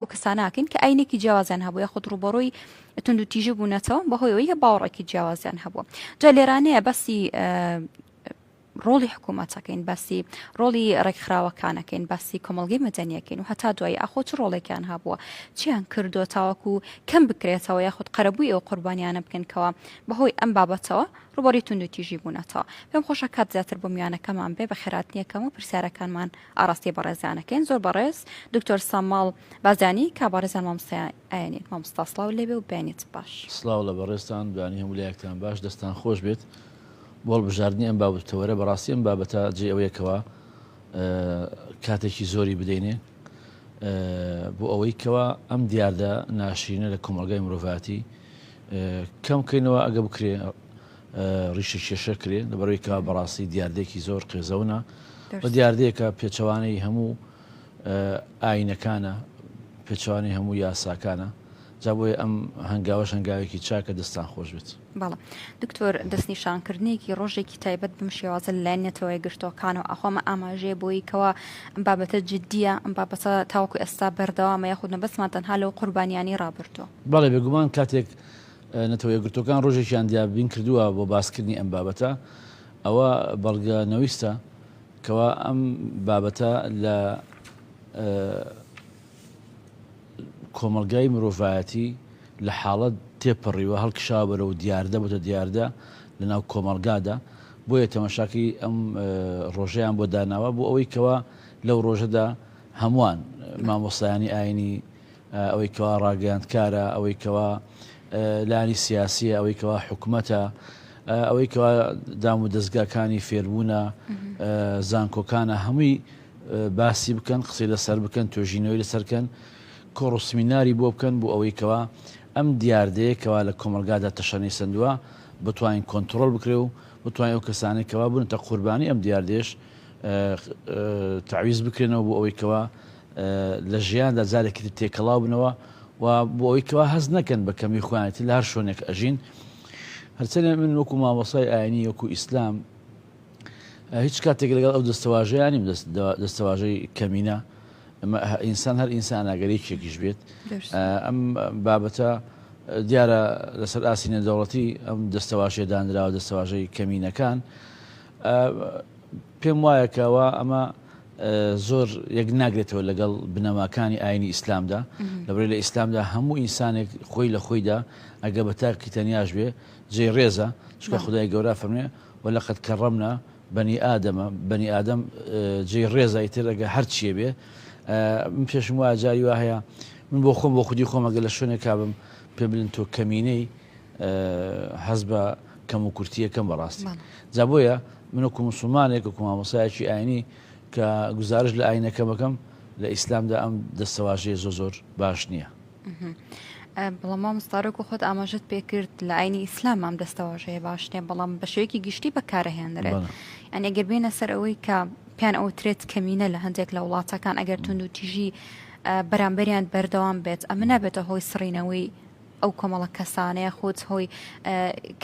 و کەساناکەین کە ئاینێکی جیاوازیان هەبوو یاخود ڕووبەڕووی توندوتیژی بوونەتەوە بەهۆی ئەوەی کە باوەڕێکی جیاوازیان هەبوو جا لێرانەیە بەسی ڕۆڵی حکوومەتەکەین باسی ڕۆڵی ڕێکخراوەکانەکەین باسی کۆمەلگەی مەدەنیەکەین و هەتا دوایی ئاخۆ چ ڕۆڵێکیان هەبووە چیان کردو تاوەکو کەم بکرێتەوە یاخود قەرەبووی ئەو قوربانیانە بکەنکەوە بەهۆی ئەم بابەتەوە ڕوبەڕی تونند و تیژی بوونەتەوە پێم خۆشە کات زیاتر بۆ میوانەکەمان بێ بە خێراتنیەکەم و پرسیارەکانمان ئاڕاستەی بەڕێزانەکەین زۆر بەڕێز دکتۆر ساماڵ بارزانی کا بەڕێزان مامۆستایان ئاینین مامۆستا سڵاو لێبێ و بەیانیت باش. سڵاو لە بەڕێزتان بەیانی هەموو لایەکتان باش دەستان خۆش بێت بۆ هەڵبژاردنی ئەم بابەت و تەوەرە بەڕاستی ئەم بابەتە جێی ئەوەیە کەوا کاتێکی زۆری بدەینێ بۆ ئەوەی کەوا ئەم دیاردە ناشرینە لە کۆمەڵگای مرۆڤاتی کەم کەینەوە ئەگە بکرێ ڕیشە کێشە کرێ لەبەرەوەی کە بەڕاستی دیاردێکی زۆر قێزەونە بە دیاردەیەکە پێچەوانەی هەموو ئاینەکانە پێچوانی هەموو یاساکانە جا بۆیە ئەم هەنگاوەش هەنگاوێکی چاکە دەستان خۆش بێت بەڵ دکتۆر دەستنیشانکردنێکی ڕۆژێکی تایبەت بم شێوازە لای نەتەوەی گرتوەکان و ئەخۆمە ئاماژەیە بۆی کەەوە ئەم بابەتە جددیە ئەم بابەتە تاوکو ئێستا بەردەوامە یاخود نەبەسمان تەنها لەو قوربانیانی ڕابردووە بەڵێ بێگومان کاتێک نەتەوە یەکگرتووەکان ڕۆژێکیان دیابین کردووە بۆ باسکردنی ئەم بابەتە، ئەوە بەڵگە نەویستە کەوا ئەم بابەتە لە کۆمەڵگای مرۆڤایەتی لە حاڵەت تێپەڕیوە، هەڵکشاوە بەرەو دیاردە، بۆتە دیاردە لەناو کۆمەڵگادا، بۆیە تەماشاکەی ئەم ڕۆژەیان بۆ داناوە، بۆ ئەوەی کەوا لەو ڕۆژەدا هەمووان مامۆستایانی ئاینی ئەوەی کەوا ڕاگەیاندکارە، ئەوەی کەوا لایەنی سیاسییە، ئەوەی کەوا حکومەتە، ئەوەی کەوا دام و دەزگاکانی فێربوونە، زانکۆکانە، هەمووی باسی بکەن، قسەی لەسەر بکەن، توێژینەوەی لەسەر بکەن، کۆڕ و سمیناری بۆ بکەن، بۆ ئەوەی کەوا ئەم دیاردەیە کەوا لە کۆمەڵگادا تەشەنەی سەندووە، بتوانین کۆنتڕۆڵ بکرێ و بتوانین ئەو کەسانەی کەوا بوونەتە قوربانی ئەم دیاردەیەش تەعویز بکرێنەوە بۆ ئەوەی کەوا لە ژیاندا جارێکی تر تێکەڵاو بنەوە و بۆ ئەوەی کەوا هەست نەکەن بە کەمی خۆیانێتی لە هەر شوێنێک ئەژین هەرچەنێ من وەکو مامۆسای ئاینی وەکو ئیسلام هیچ کاتێک لەگەڵ ئەو دەستەواژەیانیم دەستەواژەی کەمینە ئینسان هەر ئینسان ئاگەرێکێکیش بێت ئەم بابەتە دیارە لەسەر ئاسینە دەوڵەتی ئەم دەستەواژێدانراوە دەستەواژەی کەمینەکان پێم وایە کە وا ئەمە زۆر یەک ناگرێتەوە لەگەڵ بنەماکانی ئاینی ئیسلامدا لەبێ لە ئیسلامدا هەموو ئینسانێک خۆی لە خۆیدا ئەگە بە تاکی تەنیاش بێ جێ ڕێزە چکە خدای گەورە فەرمێ و لە قەت کە ڕەمنا بەنی ئادەمە بەنی ئادەم جێ ڕێزای ترەگە هەرچیە بێ من پێشم وایە جاری وا هەیە من بۆ خۆم بۆ خودی خۆمەگە لە شوێنێکابم پێ بلن تۆ کەمینەی هەز بە کەم و کورتیە کەم بەڕاستی جا بۆیە من وەکو موسڵمانێک وەکو مامۆسایەکی ئاینی کە گزارش لە ئاینەکەم ئەکەم لە ئیسلامدا ئەم دەستەواژەیە زۆ زۆر باش نییە. بەڵام مامۆستاارۆک و خۆت ئاماژت پێکرد لە ئاینی ئیسلام ئەم دەستەواژەیە باش نیە بەڵام بە شێوەیەکی گشتی بەکارەهێنرێت ئەن ئەگەر بێنە سەر ئەوەی کە پیان ئەو ترێت کەمینە لە هەندێک لە وڵاتەکان ئەگەر تونند و تیژی بەرامبەریان بەردەوام بێت ئەمە نابێتە هۆی سڕینەوەی ئەو کۆمەڵە کەسانە یاخود هۆی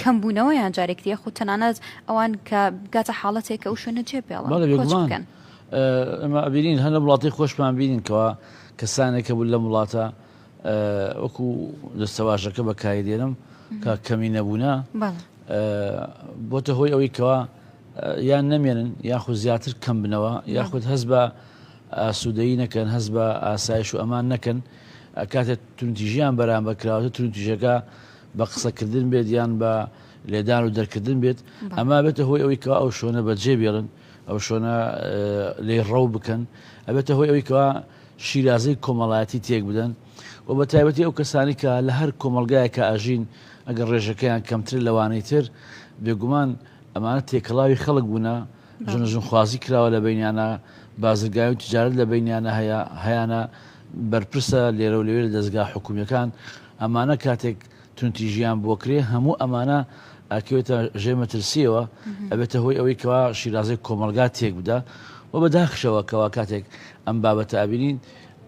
کەم بوونەوە یان جارێکتر یاخود تەنانەت ئەوان کە بگاتە حاڵەتێک کە ئەو شوێنە جێ پێڵە بەڵێ کۆچ بێگومان بکەن ئەمە ئەبینین هەر لە وڵاتی خۆشمان بینینکەوە کەسانێکە بوو لەم وڵاتە ئە، وەکو دەستەواژەکە بەکاری دێنم کە کەمی نەبوونە بەڵێ ئە، بۆتە هۆی ئەوەی کەوا ئە، یان نەمێنن یاخود زیاتر کەم بنەوە یاخود هەست بە ئاسوودەیی نەکەن هەست بە ئاسایش و ئەمان نەکەن کاتێک توندتیژیان بەرامبەر کراوەتە توندتیژەکە بە قسەکردن بێت یان بە لێدان و دەرکردن بێت ئەما بێتە هۆی ئەوی کە ئەو شوێنە بەجێ بێڵن ئەو شوێنە لێ ڕەو بکەن ئەبێتە هۆی ئەوی کەوا شیرازەی کۆمەڵایەتی تێک بدەن و بە تایبەتی ئەو کەسانی کە لە هەر کۆمەلگایە کە ئاژین ئەگەر ڕێژەکەیان کەمتر لەوانەی تر بێگومان ئەمانە تێکەڵاوی خەڵک بوونە ژن و ژنخوازی کراوە لە بینیانە بازرگای و تجارت لە بینیانە هەیە هەیانە بەرپرسە لێرە و لەوێ لە دەستگا حکومیەکان ئەمانە کاتێک تونتی ژیان بۆ کرێ هەموو ئەمانە ئەکەوێتە ژێ مەترسیەوە ئەبێتە هۆی ئەوەی کەوا شیرازەی کۆمەلگا تێک بدا و بە داخشەوە کەوا کاتێک ئەم بابەتە ئابینین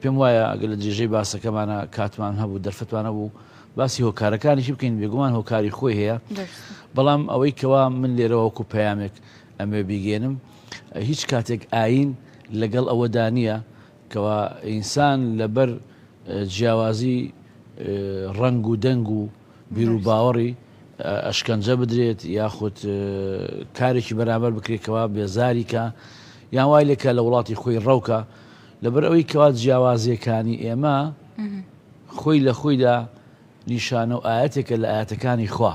پێم وایە ئەگە لە درێژەی باسەکەمانە کاتمان هەبوو دەرفەتوانە بوو باسی هۆکارەکانیشی بکەین بێگومان هۆکاری خۆی هەیە بەڵام ئەوەی کەوا من لێرەوەکو پەیامێک ئەمەوێ بیگەینم هیچ کاتێک ئاین لەگەڵ ئەوەدا نییە کەوا ئینسان لەبەر جیاوازی ڕنگ و دەنگ و بیر و باوەڕی ئەشکەنجە بدرێت یاخود کارێکی بەرامبەر بکرێتەوە بێزاریکە یان وای لێکە لە وڵاتی خۆی ڕەوکە لەبەر ئەوەی کەوا جیاوازیەکانی ئێمە خۆی لە خۆیدا نیشانە و ئاەتێکە لە ئاەتەکانی خوا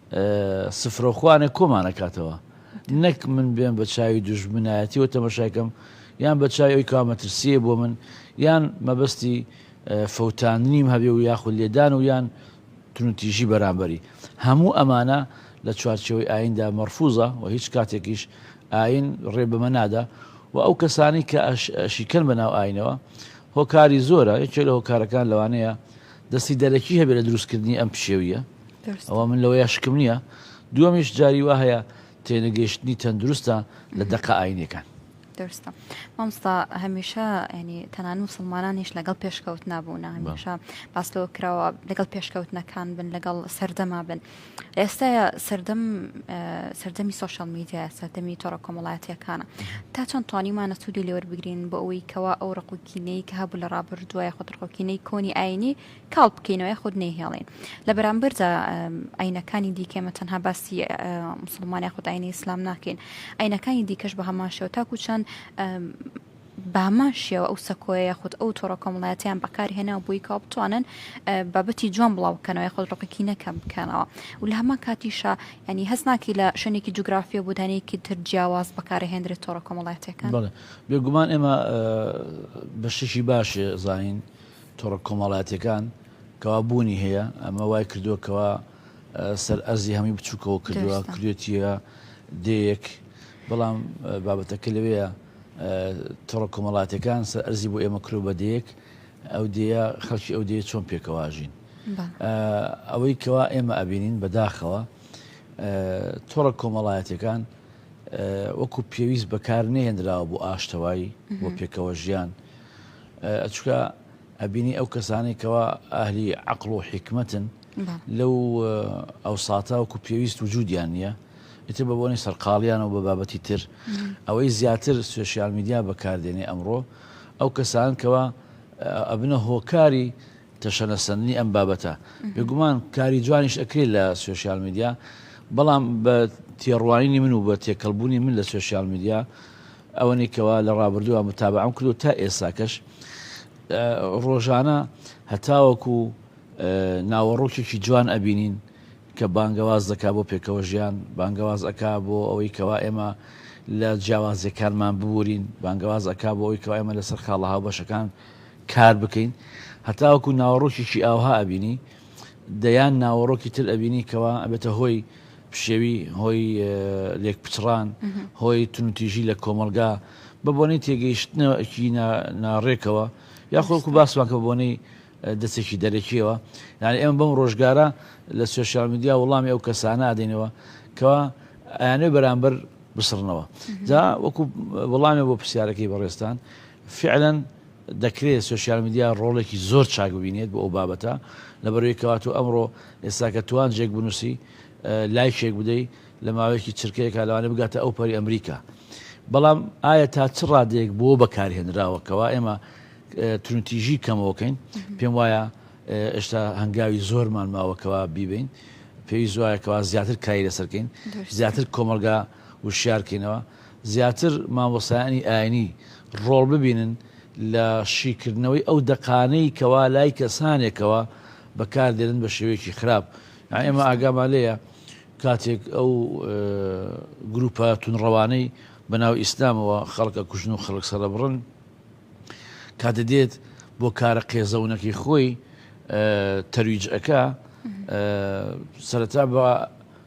سفرە و خوانێ کۆمان ئەکاتەوە نەک من بێم بە چاوی دوژمنایەتی و تەمەشاکەم یان بە چای ئەوی کاوە مەترسیە بۆ من یان مەبەستی فەوتاندنیم هەبێ و یاخود لێدان و یان تونتیژی بەرامبەری هەموو ئەمانە لە چوارچەوەی ئایندا مەرفوزە و هیچ کاتێکیش ئاین ڕێ بەمە نادا و ئەو کەسانی کە شیکەن بە ناو ئاینەوە هۆکاری زۆرە یەکێ لە هۆکارەکان لەوانەیە دەستی دەرەکی هەبێت لە دروستکردنی ئەم پشێویە ئەوە من لەوەیە شکم نییە دووەمیش جاری وا هەیە تێنەگەیشتنی تەندروستە لە دەقە ئاینەکان دەرستە مامستا هەمیشە ینی تەنان مسلمانانیش لەگەڵ پێشکەوت نابوونا هەمیشە باستەوە کراوە لەگەڵ پێشکەوتنەکان بن لەگەڵ سەردەما بن ئێستاە سەردەم سەردەمی سوۆشال میدیا سەردەمی تۆڕە کۆمەڵایەتەکانە تا چەند توانیمانە سوودی لێوەربگرین بۆ ئەوەی کەوا ئەو ڕقوکینەی کە هەبوو لە ڕابردوای خۆتڕقۆکینەی کۆنی ئاینی کاڵ بکەینەوە یاخود نەیهێڵین لە بەرامبەردا ئاینەکانی دیکە ئێمە تەنها باسی مسلمان یاخود ئاینە ئیسلام ناکەین ئاینەکانی دیکەش بە هەمان شێوە تاکو چەند بامان شێوە ئەو سەکۆیە یاخود ئەو تۆڕە کۆمەڵایەتیان بەکارهێنا بووی کا بتوانن بابەتی جوان بڵاوکەنەوە خۆ ڕقەکی نەکەم بکەنەوە و لە هەمان کاتیشە ینی هەز ناکی لە شوێنێکی جوگرافیە بودانەیەکی تر جیاواز بەکارهێنرێت تۆڕە کۆمەڵایەتەکان بێگومان ئێمە بەشتێکی باشێ زانین تۆڕە کۆمەڵایەتیەکان کەوا بوونی هەیە ئەمە وای کردووە کەوا سەر ئەرزی هەمووی بچووکەوە کردووە کردێتە دەیەک بەڵام بابەتەکە لەوەیە تۆڕە کۆمەڵاتەکان سەر ئەرزی بۆ ئێمە کرۆ بە دەیەک ئەو دەیە خەڵکی ئەو دەیە چۆن پێکەواژین ئەوەی کەوا ئێمە ئەبینین بەداخەوە تۆڕە کۆمەڵایەتەکان وەکو پێویست بەکار نێنراوە بۆ ئاشتەوایی بۆ پێکەوە ژیان ئەچکا ئەبینی ئەو کەسانەی کەوا ئەهلی عەقڵ و حیکمەتن لەو ئەوساتە وەکو پێویست وجودیان نییە ئیتر بە بۆنی سەرقاڵیانەوە بە بابەتی تر ئەوەی زیاتر سوسیال میدیا بەکاردێنێ ئەمڕۆ ئەو کەسان کەوا ئەبنە هۆکاری تەشەنەسەندنی ئەم بابەتە بێگومان کاری جوانیش ئەکرێت لە سوسیال میدیا بەڵام بە تێڕوانینی من و بە تێکەڵبوونی من لە سوسیال میدیا ئەوەنەی کەوا لە ڕابردووا متابەعەم کرد و تا ئێستاکەش ڕۆژانە هەتاوەکو ناوەڕۆکێکی جوان ئەبینین کە بانگەواز دەکا بۆ پێکەوە ژیان بانگەواز ئەکا بۆ ئەوەی کەوا ئێمە لە جیاوازیەکانمان ببورین بانگەواز ئەکا بۆ ئەوی کەوا ئێمە لەسەر خاڵە هاوبەشەکان کار بکەین هەتاوەکو ناوەڕۆکێکی ئاوها ئەبینی دەیان ناوەڕۆکی تر ئەبینی کەوا ئەبێتە هۆی پشێوی هۆی لێک پچڕان هۆی تونوتیژی لە کۆمەلگا بە بۆنەی تێگەیشتنەوەکی ناڕێکەوە یاخۆکو باسمانکە بۆنەی دەستێکی دەرەکیەوە یعنی ئێمە بەم ڕۆژگارە لە سوشال میدیا وڵامی ئەو کەسانە ئادەینەوە کەوا ئەیانێ بەرامبەر بسڕنەوە جا وەکو وڵامێ بۆ پرسیارەکەی بەڕێستان فعلەن دەکرێت سۆشیال میدیا ڕۆڵێکی زۆر چاک ببینێت بۆ ئەو بابەتە لەبەرئەوەی کەواتۆ ئەمڕۆ ئێستا کە توانجێک بنووسی لایکێک بدەی لە ماوەیەکی چرکەیەکا لەوانێ بگاتە ئەو پەری ئەمریکا بەڵام ئایا تا چ ڕادەیەک بۆ بەکارهێنراوە کەوا ئێمە ترونتیژی کەمەوەکەین پێم وایە ئێشتا هەنگاوی زۆرمان ماوەکەوە بیبین پێویست وایە کەوا زیاتر کاری لەسەرکەین زیاتر کۆمەلگا وشیار کەینەوە زیاتر مامۆستایانی ئاینی ڕۆڵ ببینن لە شیکردنەوەی ئەو دەقانەی کەوا لای کەسانێکەوە بەکار دێنن بە شێوەیەکی خراپ یان ئێمە ئاگامان لێیە کاتێک ئەو گروپە تونڕەوانەی بە ناو ئیسلامەوە خەڵکە کوژن و خەڵک سەرەبڕن کاتە دێت بۆ کارە قێزەونەکەی خۆی تەرویجەکە سەرەتا بە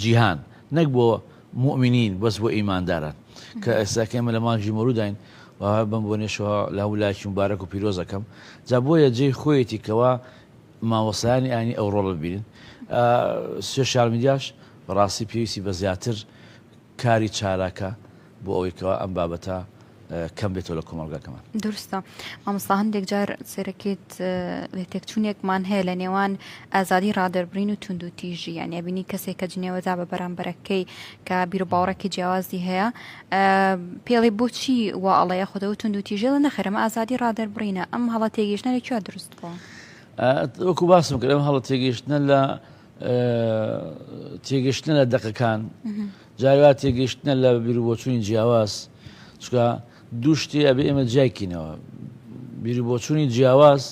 جیهان نەک بۆ موئمنین بەس بۆ ئیمانداران کە ئێستا کە ئێمە لە مانگی مەولووداین و بەم بۆنەشەوە لە هەموو لایەکی موبارەک و پیرۆز ئەکەم جا بۆیە جێی خۆیەتی کەوا مامۆستایانی ئاینی ئەو ڕۆڵە ببینن سوێشال میدیاش بەڕاستی پێویستی بە زیاتر کاری چالاکە بۆ ئەوەی کەوا ئەم بابەتە کەم بێتەوە لە کۆمەڵگاکەمان. دروستە مامۆستا هەندێک جار سەرەکیت لێتێکچوونێکمان هەیە لە نێوان ئازادی ڕادەربڕین و توند و تیژی یان ئەبینی کەسێک کە جنێوەدا بە بەرامبەرەکەی کە بیر و باوڕێکی جیاوازی هەیە پێڵێ بۆچی وا ئەڵەیە خۆدەوە توند و تیژێ لە نەخرەمە ئازادی ڕادەربڕینە ئەم هەڵە تێگەیشتە لە کوێ دروست بووە وەکو باسم کرد ئەم هەڵە تێگەیشتە لە تێگەشتنە لە دەقەکان جاری وا تێگەشتنە لە بیرروبۆچوونی جیاواز چکە دوو شتی ئەبێ ئێمە جیایکینەوە بیری بۆچوونی جیاواز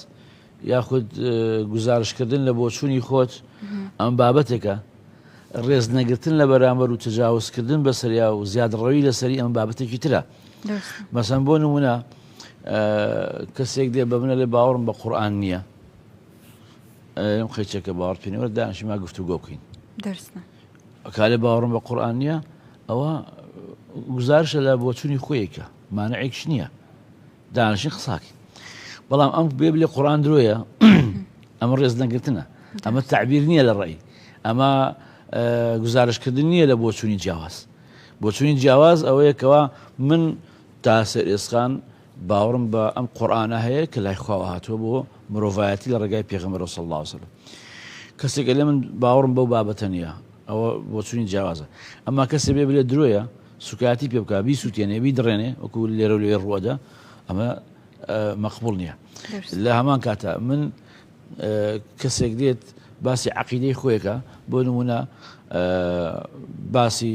یاخود گزارشکردن لە بۆچوونی خۆت ئەم بابەتێکە ڕێز نەگرتن لە بەرامبەر و تجاوزکردن بە سەریا و زیادڕەوی لەسەری ئەم بابەتێکی ترە مەسەن بۆ نمونە کەسێک دێ بە منە لێ باوەڕم بە قورآان نییە ئەم قیچە کە باوەڕت پێ نیە وەرە دانیشین با گفتوگۆ بکەین دەرس نا کالێ باوەڕم بە قورئان نییە ئەوە گزارشە لە بۆچوونی خۆیەکە مانعێکش نییە دانیشین قساکەین بەڵام ئەم بێ بلێ قڕان درۆیە ئەمە ڕێز نەگرتنە ئەمە تعبیر نییە لە ڕێی ئەمە گزارشکردن نییە لە بۆچوونی جیاواز بۆچوونی جیاواز ئەوەیەکەوە من تا سەر ئێسخان باوەڕم بە ئەم قورئانە هەیە کە لای خواوە هاتووە بۆ مرۆڤایەتی لە ڕێگای پێغەمبەرەوە صلی اللە علیە وسلم کەسێک ئەلێ من باوەڕم بەو بابەتە نییە ئەوە بۆچوونی جیاوازە ئەما کەسێ بێ بلێ درۆیە سوکایەتی پێ بکا بیسووتێنێ بیدڕێنێ وەکو لێرە و لێ ڕووەدا ئەمە مەقبول نییە لە هەمان کاتە من کەسێک دێت باسی عقیدەی خۆیەکە بۆ نمونە باسی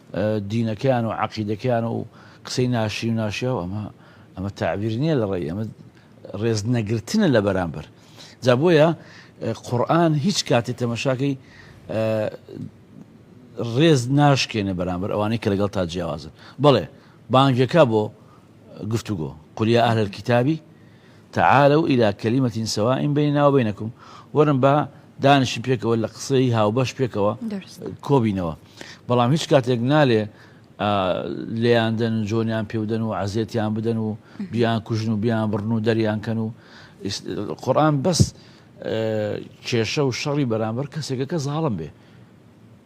دینەکەیان و عەقیدەکەیان و قسەی ناشرین و ناشیاو ئەمە ئەمە تەعبیر نیە لە ڕێی ئەمە ڕێز نەگرتنە لە بەرامبەر جا بۆیە قورآن هیچ کاتی تەمەشاکەی ڕێز ناشکێنە بەرامبەر ئەوانەی کە لەگەڵ تا جیاوازن بڵێ بانگەکە بۆ گفتوگۆ، قل یا اهل الکتاب تعالوا الی کلمە سواء بیننا و بینکم، وەرن با دانیشین پێکەوە لە قسەی هاوبەش پێکەوە کۆبینەوە، بەڵام هیچ کاتێک نالێ لێیاندەن و جۆنیان پێودەن و عزێتیان بدەن و بیان کوژن و بیان بڕن و دەریان کەن و قورآن بەس کێشە و شەڕی بەرامبەر کەسێکە کە زاڵم بێ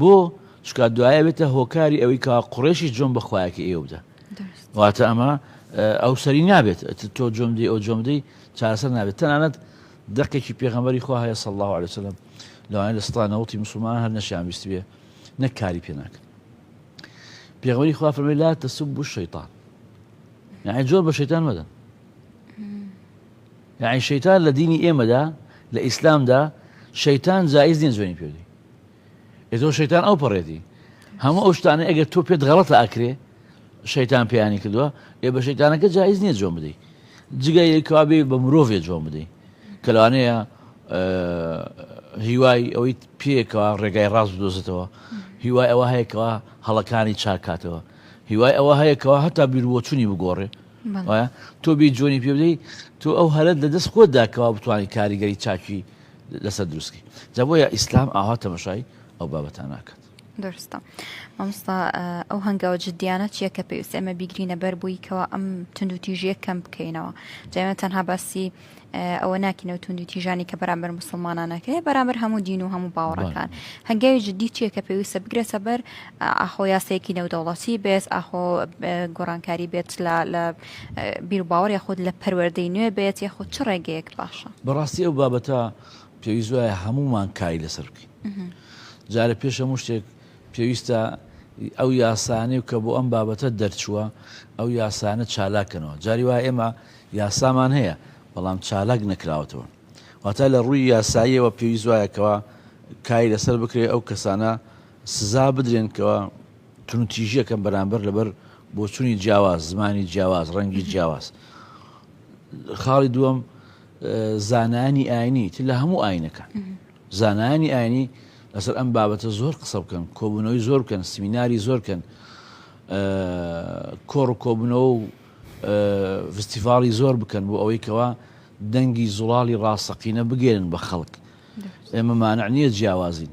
بۆ؟ چونکا دوایە بێتە هۆکاری ئەوەی کا قڕێشی جۆم بە خوایەکە ئێوە بدە واتە ئەمە ئەو سەری نابێت تۆ جۆم دی ئەو جۆم دی چاسەر نابێت تەنانەت دەقێکی پێغەمەری خوا هەیە سەڵ الله عليه وسلم لەوانە لە ستانەوەڵی مسلمان هەر نەشیان ویست بێ نەک کاری پێ ناکەن پێغەمەری خوا فەرمی لا تەسب بوو شەیتان یعنی جۆر بە شەیتان مەدەن یعنی شەیتان لە دینی ئێمەدا لە ئیسلامدا شەیتان جایز نیە جوێنی پێدی ئێتۆ شەیتان ئەو پەڕێتی هەموو ئەو شتانە ئەگەر تۆ پێت غەڵەتە ئەکرێ شەیتان پێیانی کردووە ئێ بە شەیتانەکە جایز نییە جۆم بدەیت جگە یەکوابێ بە مرۆڤێ جۆم بدەیت کە لەوانەیە هیوای ئەوەی پێکەوە ڕێگای ڕاز بدۆزێتەوە هیوای ئەوە هەیەکەوە هەڵەکانی چاکاتەوە هیوای ئەوە هەیەکەوە هەتا بیروەچوونی بگۆڕێ تۆ بی جۆنی پێ بدەیت تۆ ئەو هەرت لە دەست خۆتداکەوا بتوانانی کاریگەری چاکی لەسەر دروست کرد جا بۆیە ئیسلام ئاوا تەمەشای ئەو بابەتان ناکات دەرستە مامستا ئەو هەنگاوە جددیانە چییە کە پێویست ئێمە بیگرینە بەر بووی کەەوە ئەم تونند و تیژیە کەم بکەینەوە جاێمە تەنها باسی ئەوە ناکینەوە تونند و تیژانی کە بەرامبەر مسلمانانەکەی بەرامبەر هەموو دین و هەموو باوەڕەکان هەنگاوی جددی چییە کە پێویستە بگرێتە بەر ئاخۆ یاسەیەکی نێودەوڵەتی بێت ئاخۆ گۆڕانکاری بێت لە بیروباوەڕ یاخود لە پەروەردەی نوێ بێت یاخود چ ڕێگەیەک باشە؟ بەڕاستی ئەو بابەتە پێویست وایە هەموومان کاری لەسەر بکەین جارە پێش هەموو شتێک پێویستە ئەو یاسانەی و کە بۆ ئەم بابەتە دەرچووە ئەو یاسانە چالاکەنەوە جاری وایە ئێمە یاسامان هەیە بەڵام چالاک نەکراوەتەوە واتە لە ڕووی یاساییەوە پێویست وایەکەوە کاری لەسەر بکرێت ئەو کەسانە سزا بدرێنکەوە توندتیژیەکەم بەرامبەر لەبەر بۆچونی جیاواز، زمانی جیاواز، ڕەنگی جیاواز. خاڵی دووەم زانایانی ئاینی تر لە هەموو ئاینەکان. زانایانی ئاینی لەسەر ئەم بابەتە زۆر قسە بکەن، کۆبوونەوەی زۆر بکەن، سمیناری زۆر کەن، کۆڕ و کۆبوونەوە و فستیڤاڵی زۆر بکەن بۆ ئەوەی کەوا دەنگی زوڵاڵی ڕاستەقینە بگەێنن بە خەڵک. ئێمە مانع نییە جیاوازین.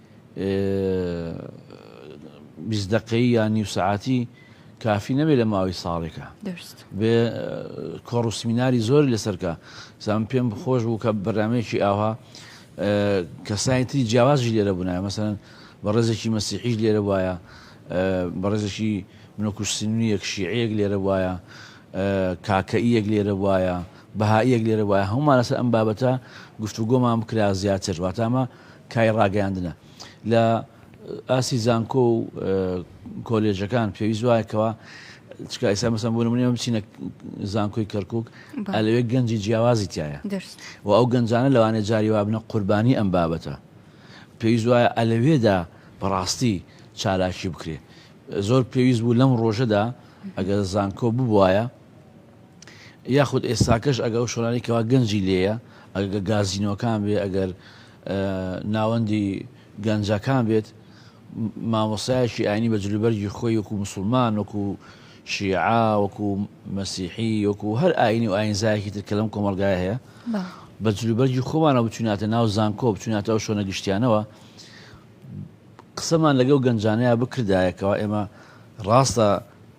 بیست دەقەی یا نیو سەعاتی کافی نەبێت لە ماوەی ساڵێکە بێ کۆڕ و سمیناری زۆر لەسەرکە زان پێم خۆش بوو کە بەرنمەیەکی ئاها کەسانی تری جیاوازی لێرە بوونایە مەسەن بە ڕێزێکی مەسیحیش لێرە وایە بە ڕێزێکی منۆکوشسنویەک شیعەیەک لێرە وایە کاکەیەک لێرە وایە بەهایەک لێرە وایە هەمومان لەسەر ئەم بابەتە گفتوگۆمان بکرا زیاتر واتامە کای ڕاگەیاندنە لە ئاستی زانکۆ و کۆلێژەکان پێویست وایە کەوا چکە ئێستا مەسەن بۆ نمونێ بچینە زانکۆی کەرکک ئەلەوێ گەنجی جیاوازی تایە و ئەو گەنجانە لەوانێ جاری وابنە قوربانی ئەم بابەتە پێویست وایە ئەلەوێدا بەڕاستی چالاکی بکرێ زۆر پێویست بوو لەم ڕۆژەدا ئەگەر زانکۆ ببواە یاخود ئێستاکەش ئەگەر ئەو شۆرانەی کەوا گەنجی لێیە ئەگە گازینۆکان بێ ئەگەر ناوەندی گەنجەکان بێت مامۆسایەکی ئاینی بە جلوبەرگی خۆی وەکو مسلمان وەکو شیعا وەکو مەسیحی وەکو هەر ئاینی و ئاینزایەکی تر کە لەم کۆمەلگای هەیە بە جلوبەرگی خۆمانە بچوناتە ناو زانکۆ بچوناتە ئەو شۆنە گشتیانەوە قسەمان لەگەڵ گەنجانەیە بکردایەکەوە ئێمە ڕاستە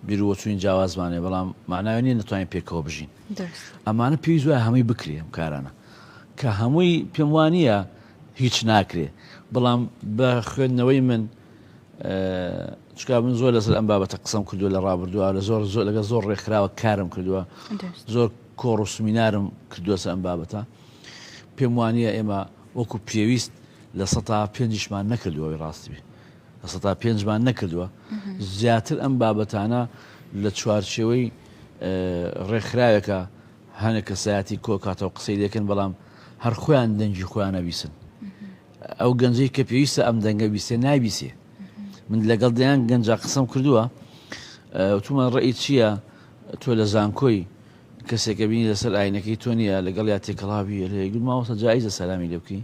بیروبۆچوونی جیاوازمان هەیە، بەڵام مەعناوی نییە نەتوانین پێکەوە بژین. ئەمانە پێویست وایە هەمووی بکرێ ئەم کارانە. کە هەمووی پێم وا نییە هیچ ناکرێ. بەڵام بە خوێندنەوەی من چکا من زۆر لەسەر ئەم بابەتە قسەم کردووە لە ڕابردووە لە زۆر زۆر لەگە زۆر ڕێکخراوە کارم کردووە زۆر کۆڕ و سمینارم کردووەسە ئەم بابەتە پێم وانە ئێمە وەکو پێویست لە سە پێنجشمان نەکردوەوەی ڕاستبی سەتا پێنج مان نەکردووە زیاتر ئەم بابەتانە لە چوارچێوەی ڕێکخراوێکە هەنێک کەسایەتی کۆکاتەوە قسەی لەکەن بەڵام هەر خۆیان دەنگی خۆیانە بیسن ئەو گەنجەی کە پێویستە ئەم دەنگە بیسێ نایبیسێ من لەگەڵ دەیان گەنج قسم کردووە تومان ڕێی چییە تۆ لە زانکۆی کەسێکە بینی لەسەر ئاینەکەی تۆ نیە لەگەڵ یا تێکەڵاوی گوماوەسە جایزە سەلامی لێبکەی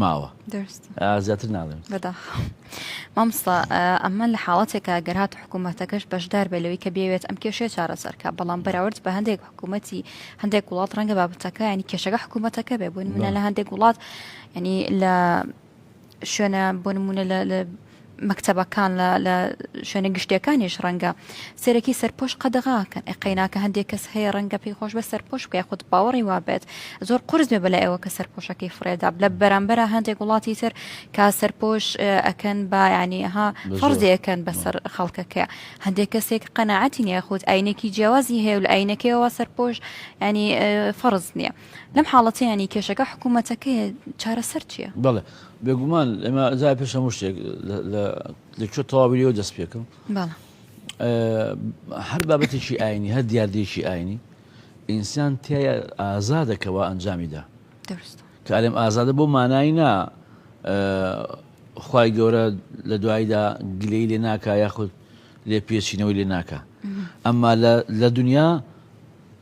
ماوە زیاتر ناڵێن بەداخەوە مامستا ئەمە لە حاڵەتێکە گەر هات حکوومەتەکەش بەشدار بێ لەوەی کە بێوێت ئەم کێشەیە چارەسەرکە بەڵام بەراورد بە هەندێک حکوومەتتی هەندێک وڵات ڕەنگە بابەتەکە ینی کێشەکە حکوومەتەکە بێ بوون منە لە هەندێک وڵات ینی لە شوێنە بۆ نمونە لە مەکتەبەکان لە لە شوێنە گشتیەکانیش ڕەنگە سەرەکی سەرپۆش قەدەغاکەن ئەی قەیناکە هەندێک کەس هەیە ڕەنگە پێی خۆش بە سەرپۆش بکە خود باوەڕی وابێت زۆر قرس بێ بەلای ئەوە کە سەرپۆشەکەی فرێدا لە بەرامبەرە هەندێک وڵاتی تر کا سەرپۆش ئەکەن با ینی ها فەرزیەکەن بەسەر خەڵکەکە هەندێک کەسێک قەنەعاتی نیە خود ئاینێکی جیاوازی هەیە و لە ئاینەکەیەوە سەرپۆش ینی فەرز نییە. لەم حاڵەتە یانی کێشەکە حکوومەتەکەیە، چارەسەر چییە؟ بەڵێ بێگومان ئێمە جا پێش هەموو شتێک لە کوێ تەواوی لێوە دەست پێکەم هەر بابەتێکی ئاینی هەر دیاردێکی ئاینی ئینسان تای ئازادەکەەوە ئەنجامیدا کارێم ئازادە بۆ مانایی نا خی گەورە لە دواییدا گلەی لێ ناکە یاخود لێ پێچینەوەی لێ ناکە ئەمما لە دنیا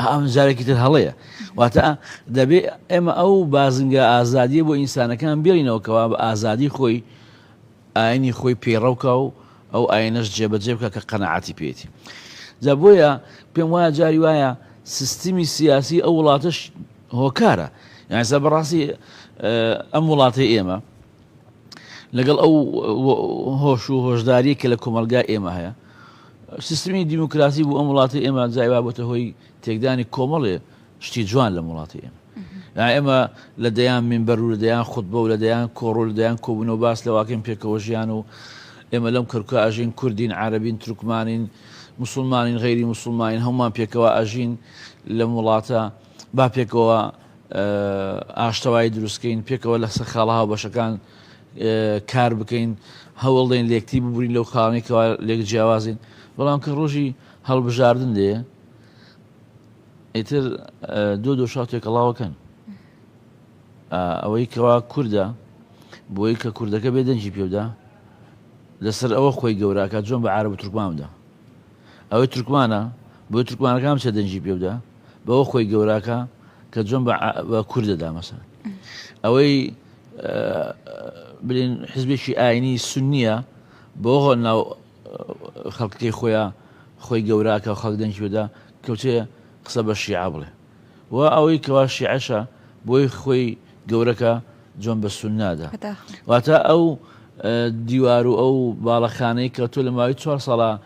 ئەمە جارێکی تر هەڵەیە. واتە دەبێ ئێمە ئەو بازنگە ئازادیە بۆ ئینسانەکان بێڵینەوە کەوا بە ئازادی خۆی ئاینی خۆی پەیڕەوکە و ئەو ئاینەش جێبەجێ بکە کە قەنەعاتی پێێتی جا بۆیە پێم وایە جاری وایە سیستمی سیاسی ئەو وڵاتش هۆکارە یانسا بەڕاستی ئەم وڵاتی ئێمە لەگەڵ ئەو هۆش و هۆشداری کە لە کۆمەلگا ئێمە هەیە سیستمی دیموکراسی بۆ ئەم وڵاتی ئێمە جای وا بۆتە هۆی تێکدانی کۆمەڵێ شتی جوان لەم وڵاتی ئێمە ئێمە لە دەیان منبەر و لە دەیان خودبە و لە دەیان کۆڕۆل دەیان کۆبوون و باس لەواکەم پێکەوە ژیان و ئێمە لەم کەرکە ئاژین کوردین عربین ترکمانین مسلمانین غیری مسلمانین هەمومان پێکەوە ئاژین لەم وڵاتە با پێکەوە ئاشتەوایی دروست کەین، پێکەوە لەسەر خاڵە هاوبەشەکان کار بکەین، هەوڵدەین لێکتی ببرین لەو خاڵانەی کەوا لێک جیاوازین، بەڵام کە ڕۆژی هەڵبژاردن دێ ئیتر دۆ دۆشاو تێکەڵاوەکەن ئەوەی کەوا کووردە بۆی کە کوردەکە بێ دەنجی پێودا لەسەر ئەوە خۆی گەوراکە جۆن بە عرب و ترکماندا ئەوەی ترکمانە بۆ ترکمانەکان چە دەنجی پێودا بەوە خۆی گەوراکە کە جۆن بە کوردەدا مەسەن ئەوەی بلین حزبێکی ئاینی سنیە بۆ هۆ ناو خەڵکەکەی خۆیان خۆی گەوراکە خەڵک دەنگی بدا کەوتێ قسە بە شیعە بڵێ و ئەوەی کەوا شیعەشە بۆی خۆی گەورەکە جۆن بە سنادا واتە ئەو دیوار و ئەو باڵەخانەی کە تۆ لە ماوەی چوار ساڵە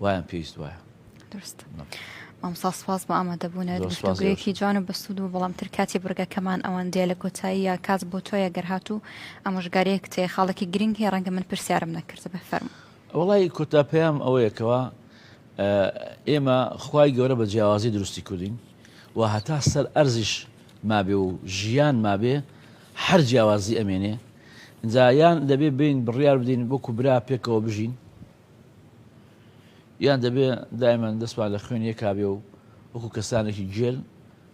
وایان پێویست وایە درست مامسا سپاس بۆ ئامادەبوونەوە گفتوگویەکی جوان و بەسوود و بەڵامتر کاتی بڕگەکەمان ئەوان دێ لە کۆتایی یا کات بۆ تۆیە گەرهات و ئامۆژگاریەک تێ خاڵێکی گرنگ هەیە ڕەنگە من پرسیارم نەکرد بە فەرم وڵی کۆتا پێیام ئەوەیەکەوە ئێمە خی گەورە بە جیاوازی دروستی کردین و هەتا سەر ئەرزش مابێ و ژیان مابێ هەر جیاوازی ئەمێنێ جایان دەبێ بین بڕیار بدین بۆکو برا پێکەوە بژین یان دەبێ دایمەن دەستمان لە خوێن یەکا بێ و وەکو کەسانێکی گێل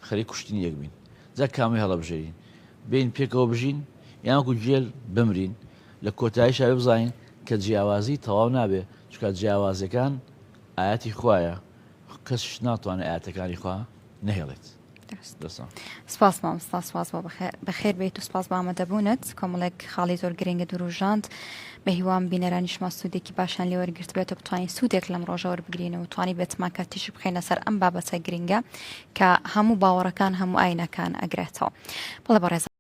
خەریک کوشتنی یەک بین؟ جا کامەی هەڵەبژێرین؟ بێین پێکەوە بژین یان وەکو گێل بمرین؟ لە کۆتاییشا بێ بزانین کە جیاوازی تەواو نابێ، چونکا جیاوازیەکان ئایەتی خوایە، کەسیش ناتوانێ ئایەتەکانی خوا نەهێڵێت. سپاس مامستا سپاس بۆ بەخێر بیت و سپاس بە ئامادەبوونت کۆمەڵێک خاڵی زۆر گرنگە دروژاند بە هیوام بینەرانیشمان سوودێکی باشان لێ وەرگرت بێت و بتوانین سوودێک لەم ڕۆژە وەربگرین و توانی بێتمان کە تیشک بخێنە سەر ئەم بابەتە گرنگە کە هەموو باوەڕەکان هەموو ئاینەکان ئەگرێتەوە بەڵێ بەڕێز